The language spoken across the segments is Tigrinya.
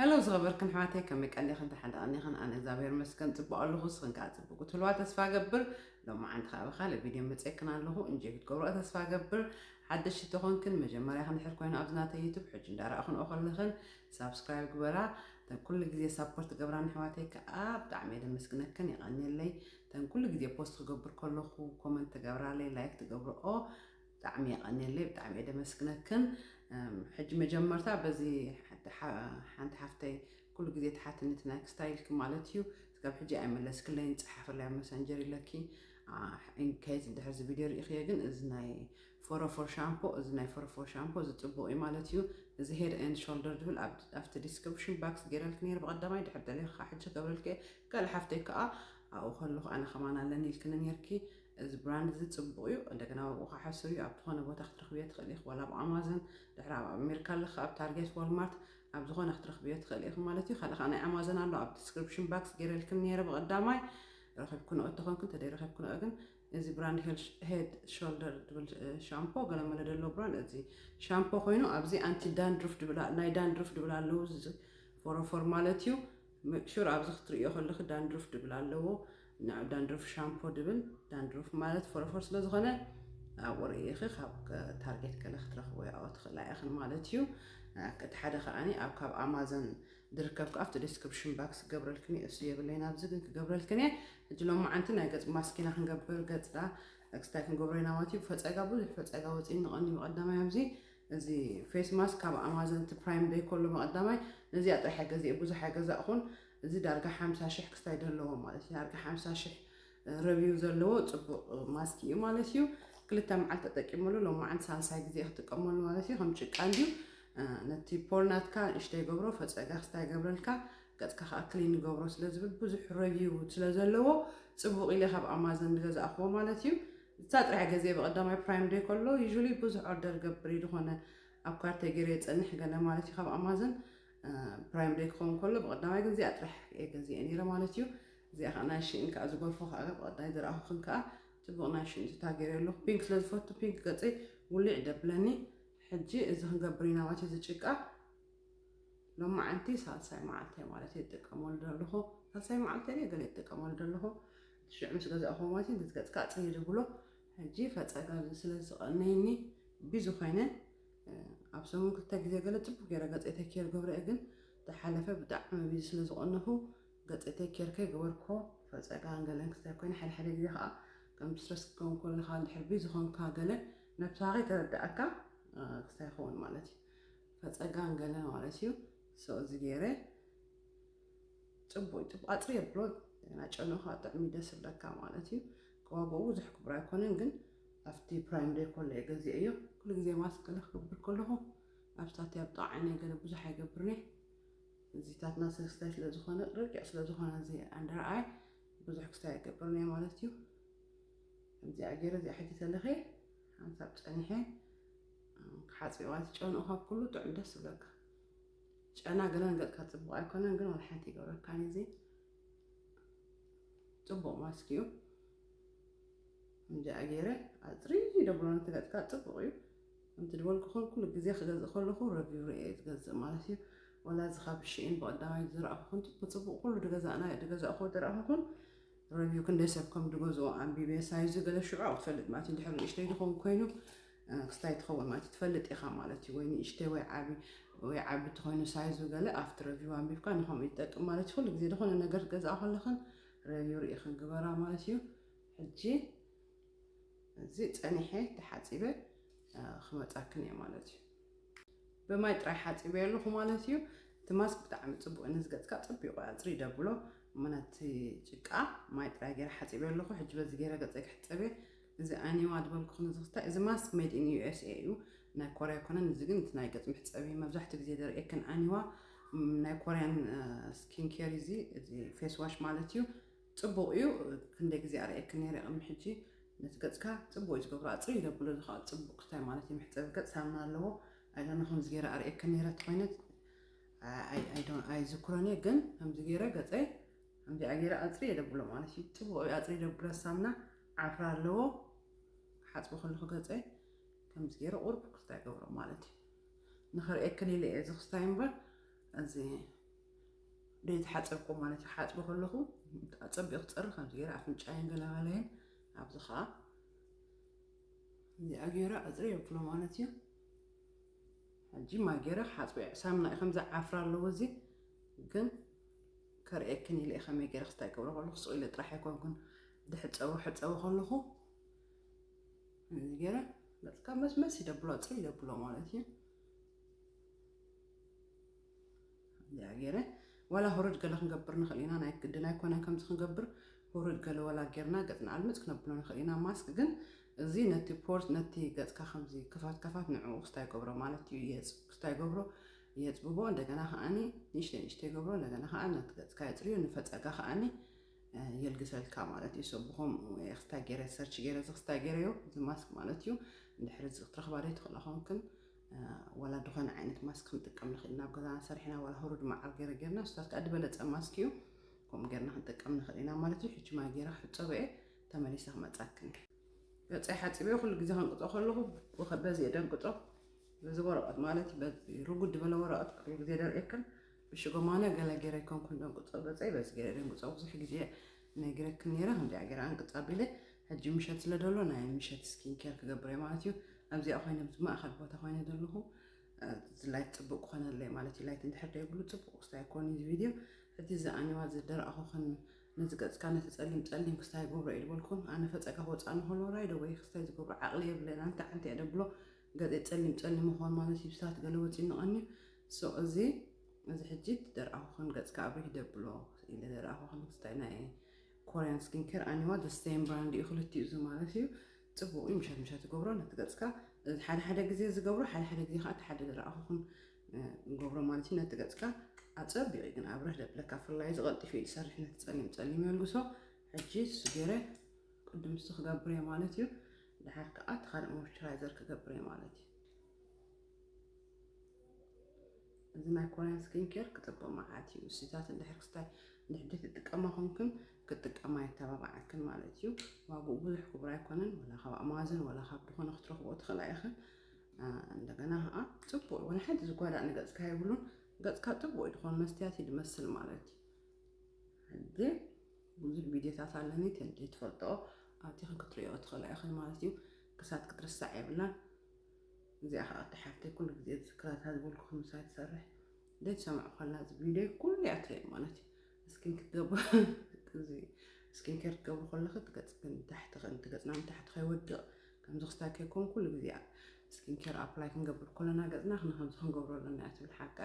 Hello ዝኸበርክን ኣሕዋተይ ከመይ ቀኒኽን ደሓን ዶ ቀኒኽን ኣነ እግዚኣብሔር ይመስገን ጽቡቕ ኣለኹ ንስኽን ከኣ ጽቡቕ ክትህልዋ ተስፋ እገብር ሎማዓንቲ ከኣ ብካልእ ቪድዮ መጺኤክን ኣለኹ እንጆይ ክትገብርኦ ተስፋ እገብር ሓደሽቲ ተኾንክን መጀመርያኽን ድሕር ኮይኑ ኣብዚ ናተይ ዩቱብ ሕጂ እንዳረኣኽንኦ ከለኽን ሳብስክራይብ ግበራ ተን ኩሉ ግዜ ሳፖርት ገብራን ኣሕዋተይ ከኣ ብጣዕሚ እየ ደመስግነክን የቐንየለይ ተን ኩሉ ግዜ ፖስት ክገብር ከለኹ ኮመንት ትገብራለይ ላይክ ትገብርኦ ብጣዕሚ የቀንየለይ ብጣዕሚ እየ ደመስግነክን ሕጂ መጀመርታ በዚ ሓንቲ ሓፍተይ ኩሉ ግዜ ትሓትኒ እቲ ናይ ክስታይልኪ ማለት እዩ እስካብ ሕጂ ኣይመለስክለይን ፀሓፈለይ ኣብ መሰንጀር ኢለኪ ኢንኬዝ እንድሕር እዚ ቪድዮ ርኢኽዮ ግን እዚ ናይ ፎረፎር ሻምፖ እዚ ናይ ፎረፎር ሻምፖ እዚ ፅቡቅ እዩ ማለት እዩ እዚ ሄድ ኤንድ ሾልደር ዝብል ኣብቲ ዲስክሪፕሽን ባክስ ገይረልክ ነይር ብቀዳማይ ድሕር ደሊኻ ሕጂ ገብረልክ ካልእ ሓፍተይ ከዓ ኣብኡ ከለኹ ኣነ ከማን ኣለኒ ኢልክኒ ነይርኪ እዚ ብራንድ እዚ ጽቡቅ እዩ እንደገና ኣብኡ ከኣ ሕሱር እዩ ኣብቲ ኮነ ቦታ ክትረክብዮ ትክእሊ ኢኪ ዋላ ኣብ ኣማዞን ድሕሪ ኣብ ኣሜሪካ ኣሎ ከኣ ኣብ ታርጌት ዋልማርት ኣብ ዝኮነ ክትረክብዮ ትክእሊ ኢኪ ማለት እዩ ካልእ ከኣ ናይ ኣማዞን ኣሎ ኣብ ዲስክሪፕሽን ባክስ ገይረልክን ነይረ ብቀዳማይ ረኪብክንኦ እተኮንኩ እንተደይ ረኪብክንኦ ግን እዚ ብራንድ ሄድ ሾልደር ድብል ሻምፖ ገለ መለ ደሎ ብራንድ እዚ ሻምፖ ኮይኑ ኣብዚ ኣንቲ ዳንድሩፍ ድብል ናይ ዳንድሩፍ ድብል ኣለዉ ፎሮፎር ማለት እዩ ሜክ ሹር ኣብዚ ክትርእዮ ከለኺ ዳንድሩፍ ድብል ኣለዎ ንዑ ዳንድሩፍ ሻምፖ ድብል ዳንድሩፍ ማለት ፎረፎር ስለ ዝኾነ ኣብኡ ርእይኺ ካብ ታርጌት ገለ ክትረኽቦ ያኦ ትኽእላ ኢኽን ማለት እዩ እቲ ሓደ ከዓኒ ኣብ ካብ ኣማዞን ድርከብ ከዓ ኣብቲ ዲስክሪፕሽን ባክስ ክገብረልክን እዩ እሱ የብለይን ኣብዚ ግን ክገብረልክን እየ ሕጂ ሎም መዓንቲ ናይ ገጽ ማስኪና ክንገብር ገጽና ክስታይ ክንገብሮ ኢና ማለት እዩ ፈጸጋ ብዙሕ ፈጸጋ ወፂእኒ ቀንዲ ብቀዳማይ ኣብዚ እዚ ፌስ ማስክ ካብ ኣማዞን እቲ ፕራይም ደይ ኮሎ መቐዳማይ ነዚኣ ጥራሕ ኣይገዚኤ ቡዙሕ ኣይገዛእኹን እዚ ዳርጋ ሓምሳ ሽሕ ክስታይ ደለዎ ማለት እዩ ዳርጋ ሓምሳ ሽሕ ረቪው ዘለዎ ጽቡቕ ማስክ እዩ ማለት እዩ ክልተ መዓልቲ ተጠቂመሉ ሎም መዓልቲ ሳልሳይ ግዜ ክጥቀመሉ ማለት እዩ ከም ጭቃ እንድዩ ነቲ ፖር ናትካ ንእሽተ ይገብሮ ፈጸጋ ክስታይ ይገብረልካ ገጽካ ከዓ ክሊን ይገብሮ ስለ ዝብል ብዙሕ ረቪው ስለ ዘለዎ ጽቡቕ ኢለ ካብ ኣማዞን ዝገዛእኽዎ ማለት እዩ ንሳ ጥራሕ ገዜ ብቀዳማይ ፕራይም ደይ ከሎ usually ብዙሕ ኦርደር ይገብር እዩ ድኾነ ኣብ ካርተይ ገይረ የጸንሕ ገለ ማለት እዩ ካብ ኣማዘን ፕራይም ደይ ክኸውን ከሎ ብቀዳማይ ግን እዚኣ ጥራሕ እየ ገዚኤ ነይረ ማለት እዩ እዚኣ ከዓ ናይ ሽእን ከዓ ዝጎርፎ ከዓ ብቀዳይ ዝረኣኹክን ከዓ ጽቡቅ ናይ ሽእን ትታ ገይረ ኣለኹ ፒንክ ስለ ዝፈቱ ፒንክ ገጸይ ውልዕ ደብለኒ ሕጂ እዚ ክንገብር ኢና ማለት እዩ እዚ ጭቃ ሎማዓንቲ ሳልሳይ መዓልተይ ማለት እየ ዝጥቀመሉ ዘለኹ ሳልሳይ መዓልተይ ገለ ይጥቀመሉ ዘለኹ ሽዑ ምስ ገዛእክዎ ማለት እዩ ነቲ ገጽካጽ እየ ዝብሎ ሕጂ ፈጸጋ ስለ ዝቐነየኒ ቢዚ ኮይነ ኣብ ሰሙን ክልተ ግዜ ገለ ጽቡቅ ገይረ ገጸይ ተኬር ገብረ እየ ግን ዝሓለፈ ብጣዕሚ ቢዚ ስለ ዝቐነኹ ገጸይ ተኬር ከይገበርክዎ ፈጸጋን ገለን ክስታይ ኮይነ ሓደ ሓደ ግዜ ከዓ ከም ስትረስ ክከውን ከለካ እንድሕር ቢዚ ኮንካ ገለ ነብስኻ ከይተረዳእካ ክስታይ ይኸውን ማለት እዩ ፈጸጋን ገለ ማለት እዩ ሰው እዚ ገይረ ፅቡቅ ፅቡቅ ኣፅሪ የብሎ እና ጨኖኻ ጥዕሚ ደስ ብለካ ማለት እዩ ከዋግኡ ብዙሕ ክቡር ኣይኮነን ግን ኣብቲ ፕራይም ደይ ኮሎ እየ ገዚኦ እዮ ኩሉ ግዜ ማስክ ገለ ክገብር ከለኹ ኣብሳት ኣብ ጣዓይነ ገለ ብዙሕ ኣይገብርን እየ እዚታትና ሰስታይ ስለ ዝኾነ ረቂቕ ስለ ዝኾነ እዚ ኣንደርኣይ ብዙሕ ክስታይ ኣይገብርን እየ ማለት እዩ ከምዚኣ ገይረ እዚኣ ሕጂ ተለኸ ሓንሳብ ፀኒሐ ክሓፅዋ ትጨንኡ ካብ ኩሉ ጥዑም ደስ ዝብለካ ጨና ገለን ገጽካ ጽቡቕ ኣይኮነን ግን ወላ ሓንቲ ይገብረካን እዚ ጽቡቕ ማስክ እዩ እንጃ ገይረ ኣፅሪ ደብሎ ነቲ ገጽካ ጽቡቕ እዩ እንቲ ድበልኩኹም ኩሉ ግዜ ክገዝእ ከለኹ ረቪው ርኤ ዝገዝእ ማለት እዩ ወላ እዚ ካብ ሽኢን ብቐዳማይ ዝረኣኹኹን ብፅቡቕ ኩሉ ድገዛእና ድገዛእኹ ድረኣኹኹን ረቪው ክንደይ ሰብ ከም ድገዝኦ ኣንቢበ ሳይዙ ገለ ሽዑ ክፈልጥ ማለት እዩ ድሕሪ ንእሽተይ ድኸውን ኮይኑ ክስታይ ትኸውን ማለት እዩ ትፈልጥ ኢኻ ማለት እዩ ወይ ንእሽተይ ወይ ዓቢ ወይ ዓቢ ተኾይኑ ሳይዙ ገለ ኣብቲ ረቪው ኣንቢብካ ንኸምኡ ይጠቅም ማለት እዩ ኩሉ ግዜ ዝኾነ ነገር ገዛእ ከለኽን ረቪው ርኢኽን ግበራ ማለት እዩ ሕጂ እዚ ጸኒሐ ተሓጺበ ክመጻክን እየ ማለት እዩ ብማይ ጥራይ ሓጺበ ኣለኹ ማለት እዩ እቲ ማስክ ብጣዕሚ ፅቡቅ እዩ ንዝገፅካ ፅቢቁ ኣፅሪ ደብሎ ምክንያት ጭቃ ማይ ጥራይ ገይረ ሓፂበ ኣለኹ ሕጂ በዚ ገይረ ገፀይ ክሕፀበ እዚ ኣኒዋ ዝበልኩ ክንዝክታ እዚ ማስክ ሜድ ኢን ዩኤስኤ እዩ ናይ ኮርያ ኣይኮነን እዚ ግን እቲ ናይ ገጽ መሕጸቢ እዩ መብዛሕትኡ ግዜ ዘርእየክን ኣኒዋ ናይ ኮርያን ስኪን ኬር እዩ እዚ እዚ ፌስ ዋሽ ማለት እዩ ጽቡቕ እዩ ክንደይ ግዜ ኣርእየክን ነይረ ቅድሚ ሕጂ ነቲ ገጽካ ጽቡቕ እዩ ዝገብሮ ኣጽሪ ዘብሎ እዚ ከዓ ጽቡቕ እንታይ ማለት እዩ መሕጸቢ ገጽ ሳምና ኣለዎ ኣይዶነ ከምዚ ገይረ ኣርእየክን ነይረ ተኮይነት ኣይዝክሮን እየ ግን ከምዚ ገይረ ገጸይ ከምዚኣ ገይረ ኣጽሪ የደብሎ ማለት እዩ ጽቡቕ እዩ ኣጽሪ ደብሎ ሳምና ዓፍራ ኣለዎ ክሓጽቦ ከለኩ ገጸይ ከምዚ ገይረ ቁሩብ ክስታይ ገብሮ ማለት እዩ ንክርእየክን ኢለ እየ እዚ ክስታይ እምበር እዚ ዘይተሓጸብኩ ማለት እዩ ሓጽቦ ከለኩ ኣጸቢቑ ክጸሪ ከምዚ ገይረ ኣፍንጫይን ገላጋለይን ኣብዚ ከዓ እዚኣ ገይረ ኣጽሪ የብሎ ማለት እዩ ሕጂ ማይ ገይረ ክሓጽቦ እየ ሳምና እዩ ከምዚ ዓፍራ ኣለዎ እዚ ግን ከርእየክን ኢለ እየ ከመይ ገይረ ክስታይ ገብሮ ከለኩ ስቕ ኢለ ጥራሕ ኣይኮንኩን ድሕጸቡ ሕጸቡ ከለኹ እዚ ገይረ በቃ መስመስ ይደብሎ ፅር ይደብሎ ማለት እዩ እዚኣ ገይረ ዋላ ሁርድ ገለ ክንገብር ንኽእል ኢና ናይ ግድን ኣይኮነን ከምዚ ክንገብር ሁርድ ገለ ወላ ጌርና ገፅና ኣልምፅ ክነብሎ ንኽእል ኢና ማስክ ግን እዚ ነቲ ፖርት ነቲ ገፅካ ከምዚ ክፋት ክፋት ንዕኡ ክስታይ ገብሮ ማለት እዩ የፅ ክስታይ ገብሮ የፅብቦ እንደገና ከዓኒ ንእሽተይ ንእሽተይ ገብሮ እንደገና ከዓ ነቲ ገፅካ የፅርዮ ንፈፀጋ ከዓኒ የልግሰልካ ማለት እዩ ሰብኾም ክስታይ ገይረ ሰርች ገይረ እዚ ክስታይ ገይረዮ እዚ ማስክ ማለት እዩ እንድሕር እዚ ክትረኽባ ዶ ትኽእላ ኮንክን ዋላ ዝኾነ ዓይነት ማስክ ክንጥቀም ንኽእል ናብ ገዛና ሰሪሕና ዋላ ህሩድ መዓር ገይረ ገይርና ስታት ከዓ ዝበለፀ ማስክ እዩ ከምኡ ገይርና ክንጥቀም ንኽእል ኢና ማለት እዩ ሕጂ ማይ ገይረ ክሕፀበ እየ ተመሊሰ ክመፃክን ገፀይ ሓፂበ ኩሉ ግዜ ከንቅፆ ከለኹ በዚ እየ ደንቅፆ በዚ ወረቐት ማለት በዚ ርጉድ ዝበለ ወረቐት ኩሉ ግዜ ደርእየክን ብሽጎማነ ገለ ጌረ ኣይኮንኩን ደንቁጾ ገጸይ በዚ ጌረ ደንቁጾ ብዙሕ ግዜ ነግረክን ኔረ ከምዚኣ ጌረ ኣንቅጽ ኣቢለ ሕጂ ምሸት ስለ ደሎ ናይ ምሸት ስኪን ኬር ክገብር እየ ማለት እዩ ኣብዚኣ ኮይነ ብዚ ማእኸል ቦታ ኮይነ ዘለኹ እዚ ላይት ጽቡቅ ክኾነለይ ማለት እዩ ላይት እንድሕር ደይብሉ ጽቡቅ ክስታይ ኣይኮን እዚ ቪድዮ ሕጂ እዚ ኣኒዋ ዝደረኣኹኽን ነዚ ገጽካ ነቲ ጸሊም ጸሊም ክስታይ ገብሮ ኢልበልኩም ኣነ ፈጸጋ ክወጻእ ንኸሎ ራይዶ ወይ ክስታይ ዝገብሮ ዓቕሊ የብለና እንተ ዓንቲ እየ ደብሎ ገጽ ጸሊም ጸሊም ምኮን ማለት እዩ ብሳት ገለ ወጺኑቀኒ ሱቅ እዚ እዚ ሕጂ ደርኣኩክን ገጽካ ኣብሪህ ደብሎ ኢለ ደርኣኩክን ስታይ ናይ ኮርያን ስኪን ኬር ኣኒዋ the same brand እዩ ክልቲኡ እዚ ማለት እዩ ጽቡቅ እዩ ምሸት ምሸት ትገብሮ ነቲ ገጽካ ሓደ ሓደ ግዜ ዝገብሮ ሓደ ሓደ ግዜ ከዓ እቲ ሓደ ደርኣኩክን ንገብሮ ማለት እዩ ነቲ ገጽካ ኣጸቢቂ ግን ኣብረህ ደብለካ ፍላይ እዚ ቀልጢፉ እዩ ዝሰርሕ ነቲ ጸሊም ጸሊም የልግሶ ሕጂ ንሱ ገይረ ቅድም ንሱ ክገብር እየ ማለት እዩ ድሓር ከኣ እቲ ካልእ ሞይስቸራይዘር ክገብር እየ ማለት እዩ። እዚ ናይ ኮርያን ስኪን ኬር ክጽብቕ መዓት እዩ። ንስታት እንድሕር ክስታይ ንሕድት ትጥቀማ ኮንክን ክትጥቀማ የተባባዓክን ማለት እዩ። ዋግኡ ብዙሕ ክቡር ኣይኮነን። ወላ ካብ ኣማዞን ወላ ካብ ዝኾነ ክትረኽቦ ትኽእላ ኢኽን። እንደገና ከዓ ጽቡቅ ወላ ሓንቲ ዝጓዳእ ንገጽካ የብሉን። ገጽካ ጽቡቅ እዩ ዝኾን መስትያት እዩ ዝመስል ማለት እዩ። ብዙሕ ቪድዮታት ኣለኒ ተይትፈልጥኦ ኣቲኽን ክትሪኦ ትኽእላ ኢኽን ማለት እዩ ክሳት ክትርሳዕ የብላን እዚኣ ከዓ ኣቲ ሓፍተይ ኩሉ ግዜ ዝዝክራታ ዝበልኩ ከምሳይ ትሰርሕ ደት ሰማዕ ኳላ እዚ ቪድዮ ኩሉ እያ ትርኢ ማለት እዩ እስኪን ክትገቡ እዚ ስኪን ኬር ክትገብሩ ከለኺ ትገፅክን ታሕቲ ከን ትገፅና ንታሕቲ ከይወድቕ ከምዚ ክስታይ ከይኮን ኩሉ ግዜ ስኪን ኬር ኣፕላይ ክንገብር ከለና ገፅና ክንከምዚ ክንገብሮ ኣለና እያ ትብል ሓቃ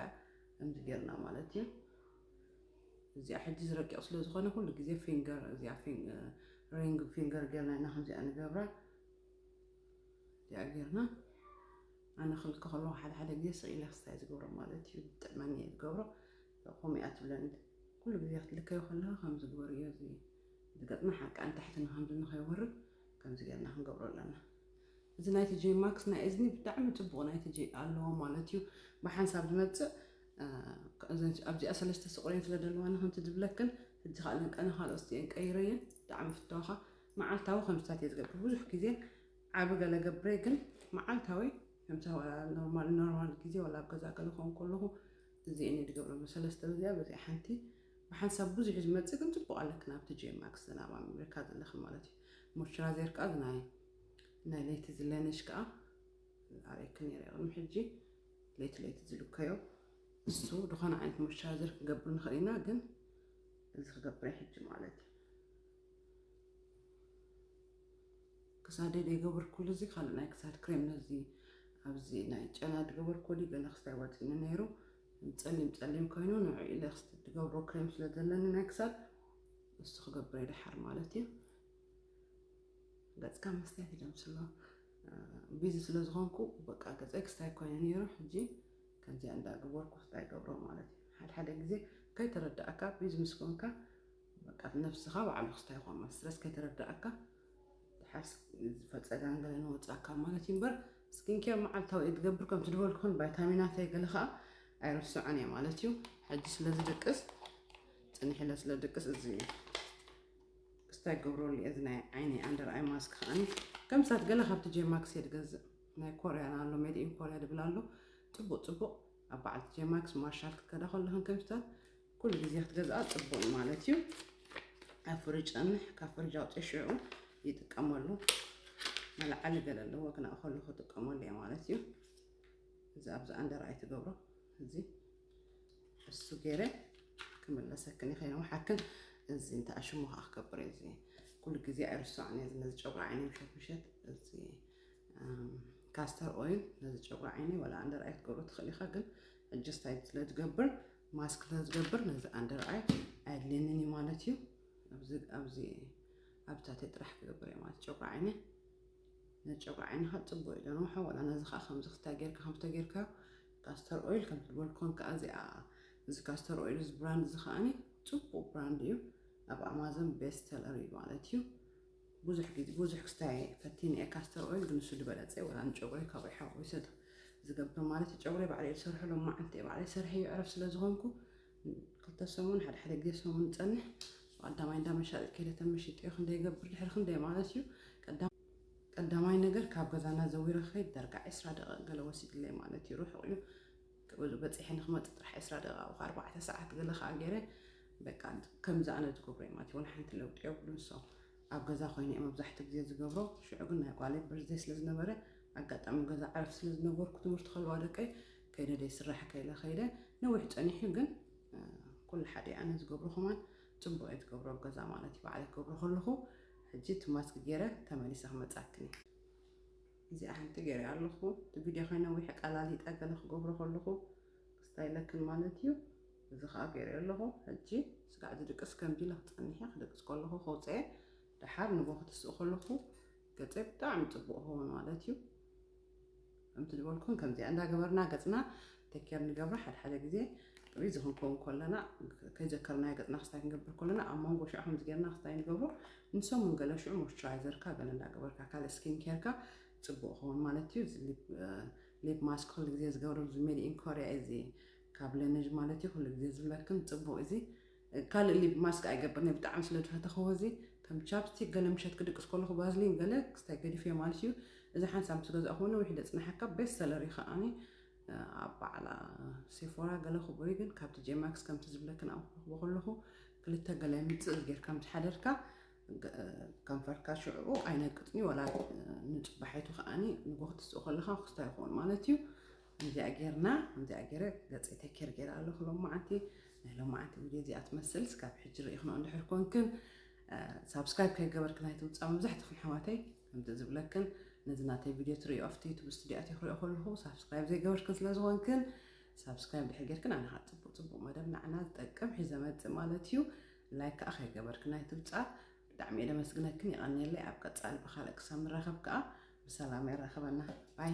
ከምዚ ጌርና ማለት እዩ እዚኣ ሕጂ ዝረቂቕ ስለ ዝኾነ ኩሉ ግዜ ፊንገር እዚኣ ሪንግ ፊንገር ጌርና ኢና ከምዚኣ ንገብራ እዚኣ ጌርና ኣነ ክልከ ከለኹ ሓደ ሓደ ግዜ ስቕ ኢለ ክስታይ ዝገብሮ ማለት እዩ ጥዕመኒ እየ ዝገብሮ ከምኡ እያ ትብለኒ ኩሉ ግዜ ክትልከዮ ከለኻ ከም ዝግበር እዮ እዚ ዝገጥመ ሓቂ ኣንታሕቲ ንከምዚ ንኸይወርድ ከምዚ ጌርና ክንገብሮ ኣለና እዚ ናይቲ ጀይ ማክስ ናይ እዝኒ ብጣዕሚ ፅቡቕ ናይቲ ጀይ ኣለዎ ማለት እዩ ብሓንሳብ ዝመፅእ ኣብዚኣ ሰለስተ ስቑረየን ስለ ደለዋ ንከምቲ ዝብለክን ሕጂ ካእ ለንቀነ ካልኦት ስቲኤን ቀይረየን ብጣዕሚ ፍተዋኻ መዓልታዊ ከምስታት እየ ዝገብር ብዙሕ ግዜ ዓቢ ገለ ገብረ ግን መዓልታዊ ከምሳ ዋላ ኖርማል ኖርማል ግዜ ዋላ ኣብ ገዛ ገለ ኮን ከለኹ እዚኤን እየ ዝገብረም ሰለስተ በዚኣ በዚኣ ሓንቲ ብሓንሳብ ብዙሕ ዝመፅእ ግን ፅቡቅ ኣለክን ኣብቲ ጂም ማክስ ዝናብ ኣምሪካ ዘለኽን ማለት እዩ ሞይስቸራይዘር ከዓ ናይ ናይ ለይቲ ዝለነሽ ከዓ ኣርእክን ነይረ ቅድሚ ሕጂ ለይቲ ለይቲ ዝልከዮ እሱ ዝኾነ ዓይነት ሞይስቸራይዘር ክንገብር ንኽእል ኢና፣ ግን እዚ ክገብረ ሕጂ ማለት እዩ። ክሳደ ዘይገበርኩሉ እዚ ካልእ ናይ ክሳድ ክሬም ነዚ ኣብዚ ናይ ጨና ዝገበርኩ ወዲ ገለ ክስታይ ወፂኒ ነይሩ ጸሊም ጸሊም ኮይኑ ንዑ ኢለ ክስቲ ዝገብሮ ክሬም ስለ ዘለኒ ናይ ክሳድ እሱ ክገብረ ይደሓር ማለት እዩ። ገጽካ መስትያት እዩ ዘምስሎ ቢዚ ስለ ዝኾንኩ በቃ ገጸይ ክስታይ ኮይኑ ነይሩ ሕጂ ከምዚኣ እንዳገበርኩ ክስታይ ገብሮ ማለት እዩ ሓድሓደ ግዜ ከይተረዳእካ ቢዚ ምስ ኮንካ በቃ ነፍስኻ ባዕሉ ክስታይ ይኾን ማለት ስለስ ከይተረዳእካ ሓርስ ዝፈፀጋን ገለ ንወፃካ ማለት እዩ እምበር ስኪን ኬር መዓልታዊ እየ ትገብር ከምቲ ዝበልኩን ቫይታሚናተይ ገለ ከዓ ኣይርስዖን እየ ማለት እዩ ሕጂ ስለ ዝድቅስ ፅኒሕ ኢለ ስለ ድቅስ እዚ እዩ እስታይ ክገብረሉ እየ እዚ ናይ ዓይኒ ኣንደር ኣይ ማስክ ከዓኒ ከምሳት ገለ ካብቲ ጄማክስ እየ ዝገዝእ ናይ ኮርያን ኣሎ ሜድ ኢን ኮርያ ድብል ኣሎ ፅቡቅ ፅቡቅ ኣብ በዓልቲ ጄማክስ ማርሻል ክትከዳ ከለኽን ከምስታት ኩሉ ግዜ ክትገዝኣ ፅቡቅ እዩ ማለት እዩ ኣብ ፍርጅ ፀንሕ ካብ ፍርጅ ኣውፅኦ ሽዑ ይጥቀመሉ መለዓሊ ገለ ኣለዎ ክነእኸሉ ክጥቀመሉ እየ ማለት እዩ እዚ ኣብዚ ኣንደር ኣይ ትገብሮ እዚ እሱ ገይረ ክምለሰክን ይኸይነ ውሓክን እዚ እንታይ ኣሽሙ ከዓ ክገብር እዩ እዚ ኩሉ ግዜ ኣይርስዖን እየ ነዚ ጨጉሪ ዓይነ ምሸት ምሸት እዚ ካስተር ኦይል ነዚ ጨጉሪ ዓይነ ወላ ኣንደር ኣይ ክትገብሮ ትኽእል ኢኻ ግን ሕጂ ስታይል ስለ ዝገብር ማስክ ስለ ዝገብር ነዚ ኣንደር ኣይ ኣየድልየንን እዩ ማለት እዩ ኣብዚ ኣብዚ ኣብታተይ ጥራሕ ክገብር እየ ማለት ጨጉሪ ዓይነ ነጨጉሪ ዓይንኻ ፅቡቅ እዩ ደንውሖ ወላ ነዚ ከዓ ከምዚ ክታ ጌርካ ከምዚ ተጌርካዮ ካስተር ኦይል ከምቲ ዝበልኩኹም ከኣ እዚኣ እዚ ካስተር ኦይል እዚ ብራንድ እዚ ከኣኒ ጽቡቅ ብራንድ እዩ ኣብ ኣማዞን ቤስት ሰለር እዩ ማለት እዩ ብዙሕ ግዜ ብዙሕ ክስታይ ፈቲነ እየ ካስተር ኦይል ግን ንሱ ዝበለጸ እዩ ወላ ንጨጉረይ ካብኡ ሓዊሰ ዝገብር ማለት እዩ ጨጉረይ ባዕለ እየ ዝሰርሖ ሎም መዓልቲ እየ ባዕለይ ሰርሐ እዩ ዕረፍ ስለ ዝኾንኩ ክልተ ሰሙን ሓደ ሓደ ግዜ ሰሙን ጸንሕ ብቀዳማይ እንዳ መሻጢት ከይደ ተመሽጠ እዩ ክንደይ ይገብር ድሕሪ ክንደይ ማለት እዩ ቀዳም ቀዳማይ ነገር ካብ ገዛና ዘዊረ ክኸይድ ዳርጋ ዕስራ ደቒቕ ገለ ወሲድለይ ማለት እዩ ርሑቕ እዩ ክብል በጺሐ ንክመጽእ ጥራሕ ዕስራ ደቒቕ ኣብኡ ኣርባዕተ ሰዓት ገለ ከዓ ገይረ በቃ ከምዚ ኣነ ዝገብሮ እዮም ኣትወን ሓንቲ ለውጢ የብሉ ንሶም ኣብ ገዛ ኮይነ እየ መብዛሕትኡ ግዜ ዝገብሮ ሽዑ ግን ናይ ጓለይ በርዝደይ ስለ ዝነበረ ኣጋጣሚ ገዛ ዕረፍቲ ስለ ዝነበርኩ ትምህርቲ ከለዋ ደቀይ ከይደ ደይ ስራሕ ከይለ ከይደ ነዊሕ ጸኒሑ ግን ኩሉ ሓደ ኣነ ዝገብሮ ከማን ጽቡቅ እየ ትገብሮ ኣብ ገዛ ማለት እዩ ባዕለይ ክገብሮ ከለኩ ሕጂ እቲ ማስክ ጌረ ተመሊሰ ክመጻክን እየ እዚኣ ሓንቲ ጌረ ኣለኩ እቲ ቪድዮ ከይነዊሕ ቀላሊጠ ገለ ክገብሮ ከለኩ ክስታይ ለክን ማለት እዩ እዚ ከዓ ጌረ ኣለኩ ሕጂ ስጋዕ ዝድቅስ ከምዚ ኢለ ክጸንሕ እየ ክድቅስ ከለኩ ከውፀየ ደሓር ንጎ ክትስእ ከለኩ ገጸይ ብጣዕሚ ጽቡቅ ክኸውን ማለት እዩ ከምቲ ዝበልኩን ከምዚኣ እንዳገበርና ገጽና ተኬር ንገብራ ሓደ ሓደ ግዜ ሪዚ ክንከውን ከለና ከይዘከርናዮ ገጽና ክስታይ ክንገብር ከለና ኣብ መንጎ ሽዑ ከምዚ ጌርና ክስታይ ንገብሮ ንሰሙን ገለ ሽዑ ሞይስቸራይዘርካ ገለ እንዳገበርካ ካልእ ስኪን ኬርካ ጽቡቅ ይኸውን ማለት እዩ ሊፕ ማስክ ኩሉ ግዜ ዝገብረሉ ሜድ ኢን ኮርያ እዚ ካብ ለነጅ ማለት እዩ ኩሉ ግዜ ዝብለክን ጽቡቅ እዚ ካልእ ሊብ ማስክ ኣይገብርን እየ ብጣዕሚ ስለ ዝፈተኽዎ እዚ ከም ቻፕስቲክ ገለ ምሸት ክድቅስ ከለኹ ባዝሊን ገለ ክስታይ ገዲፈዮ ማለት እዩ እዚ ሓንሳብ ምስ ገዛእኽዎ ነዊሕ ደጽንሓካ ቤስት ሰለር እዩ ከኣኒ ኣብ በዓል ሴፎራ ገለ ክቡሪ ግን ካብቲ ጄማክስ ከምቲ ዝብለክን ኣብ ክረኽቦ ከለኹ ክልተ ገለ ምጽእ ጌርካ ምስ ሓደርካ ከንፈርካ ሽዑኡ ኣይነቅጥን እዩ ወላ ንጽባሒቱ ከኣኒ ንጎ ክትስኡ ከለኻ ክስታይ ይኸውን ማለት እዩ ከምዚኣ ጌርና ከምዚኣ ጌረ ገጸይ ተኬር ጌረ ኣለኹ ሎማዓንቲ ናይ ሎማዓንቲ ቪድዮ እዚኣ ትመስል ስካብ ሕጂ ርኢኽኖ እንድሕር ኮንክን ሳብስክራይብ ከይገበርክን ኣይትውፃእ መብዛሕትኽን ኣሕዋተይ ከምዚ ዝብለክን ነዚ ናተይ ቪድዮ ትርእዩ ኣብቲ ዩቱብ ስቱድዮ ኣትዮ ክሪኦ ከለኹ ሳብስክራይብ ዘይገበርክን ስለ ዝኾንክን ሳብስክራይብ ድሕር ጌርክን ኣነ ከዓ ፅቡቅ ፅቡቅ መደብ ንዓና ዝጠቅም ሒዘ መፅእ ማለት እዩ ላይክ ከዓ ከይገበርክን ኣይትውፃእ ብጣዕሚ እየ ደመስግነክን የቐንየለይ ኣብ ቀፃሊ ብካልእ ክሳብ ንራኸብ ከዓ ብሰላም የራክበና ባይ